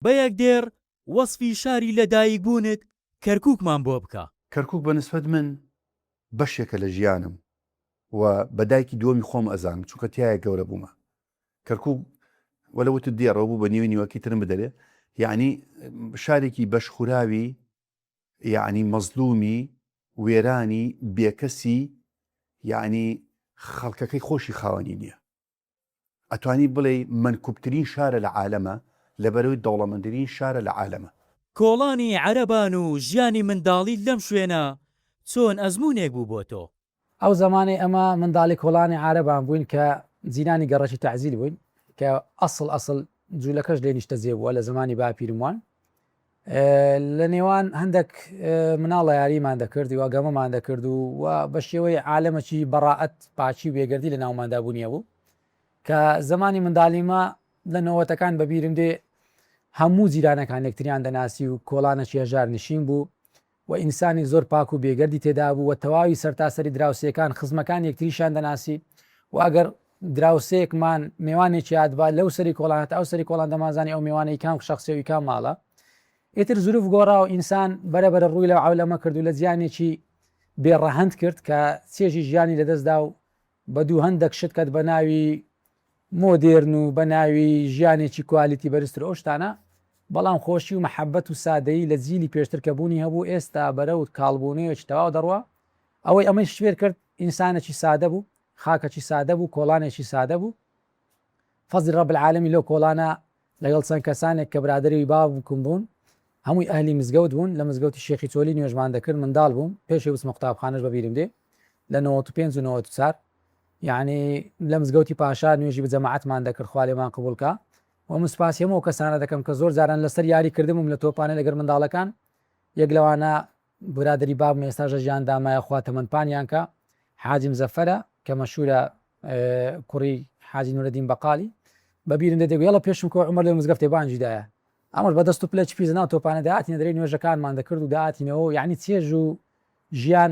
بە یەک دێڕ وەسفی شاری لە دایک بوونت کەرکوکمان بۆ بکە. کەرکوک بە نسبەت من بەشێکە لە ژیانم و بە دایکی دووەمی خۆم ئەزانم چونکە تیایا گەورە بوومە کەرکوک وەلە وتت دێڕەوە بوو بە نیوەی نیوەکی ترم بدەرێ یەعنی شارێکی بەش خوراوی یەعنی مەزلومی وێرانی بێکەسی یەعنی خەڵکەکەی خۆشی خاوەنی نیە. ئەتوانی بڵێی مەنکوبترین شارە لە عالەمە لەبەرەوەی دەوڵەمەندرین شارە لە عالەمە. کۆڵانی عەرەبان و ژیانی منداڵیت لەم شوێنە چۆن ئەزموونێک بوو بۆ تۆ؟ ئەو زەمانەی ئەمە منداڵی کۆڵانی عارەبان بووین کە جیرانی گەڕەکی تەعزیل بووین کە ئەسڵ ئەسڵ جولەکەش لێ نیشتەجێ بووە لە زەمانی باپیرم وان لە نێوان هەندەک مناڵە یاریمان دەکرد و گەمەمان دەکرد و و بە شێوەی عالەمەکی بەڕائەت پاچی و بێگردی لە ناوماندا بوونیە بوو کە زمانی منداڵیمە لە نەوەتەکان بەبیرم دێ هەموو جیرانەکان یەکتریان دەناسی و کۆڵانە چێژار نشین بوو و ئینسانێک زۆر پاک و بێگەردی تێدابوو و تەواوی سەرتاسەری دراوسێکان خزمەکانی یەکتریشیان دەناسی و ئەگەر دراوسێکمان مێوانێکی هاتبا لەو سەری کۆڵان هەتا ئەو سەری کۆڵان دەمانزانی ئەو مێوانە ی کام شەخسە و ی کام ماڵە. ئیتر زروف گۆڕا و ئینسان بەرە بەرە ڕووی لە عەولەمە کرد و لە جیانێکی بێ ڕەهەند کرد کە چێژی ژیانی لەدەستدا و بە دووهەندەک شت کەت بە ناوی مۆدێرن و بە ناوی ژیانێکی کوالیتی بەرزتر و ئەو شتانە، بەڵام خۆشی و مەحەبەت و سادەیی لە جیلی پێشتر کە بوونی هەبوو ئێستا بەرەو کاڵبوونەوەیەکی تەواو دەڕوا، ئەوەی ئەمەیش فێر کرد ئینسانێکی سادە بوو، خاکەکی سادە بوو، کۆڵانێکی سادە بوو، فەزلی رب العالمین لەو کۆڵانە لەگەڵ چەند کەسانێک کە برادەرێی باوکم بوون، هەمووی ئەهلی مزگەوت بوون، لە مزگەوتی شێخی چۆلی نوێژمان دەکرد، منداڵ بووم، پێشی بچمە قوتابخانەش بە بیرم دێ لە نەوەت و پێنج و نەوەت و چار یانی لە مزگەوتی پاشا نوێژی بە جەماعەتمان دەکرد خوا لێمان قبوڵ کا و من سوپاسی هەموو ئەو کەسانە دەکەم کە زۆر جاران لەسەر یاری کردبووم لە تۆپانێ لەگەر منداڵەکان، یەک لەوانە برادەری بابم ئێستاش لە ژیان دامایە خوا تەمەن پانیان کا حاجی مزەفەرە کە مەشورە کوڕی حاجی نورەدین بەقالی بە بیرم دێت دەگوێڵە پێشم کۆ عمر لە مزگەفتێ بانجی دایە ئەمەش بە دەست و پلەی پیس ناو تۆپانە دەهاتینە دەرێ نوێژەکانمان دەکرد و دەهاتینەوە یعنی چێژ و ژیان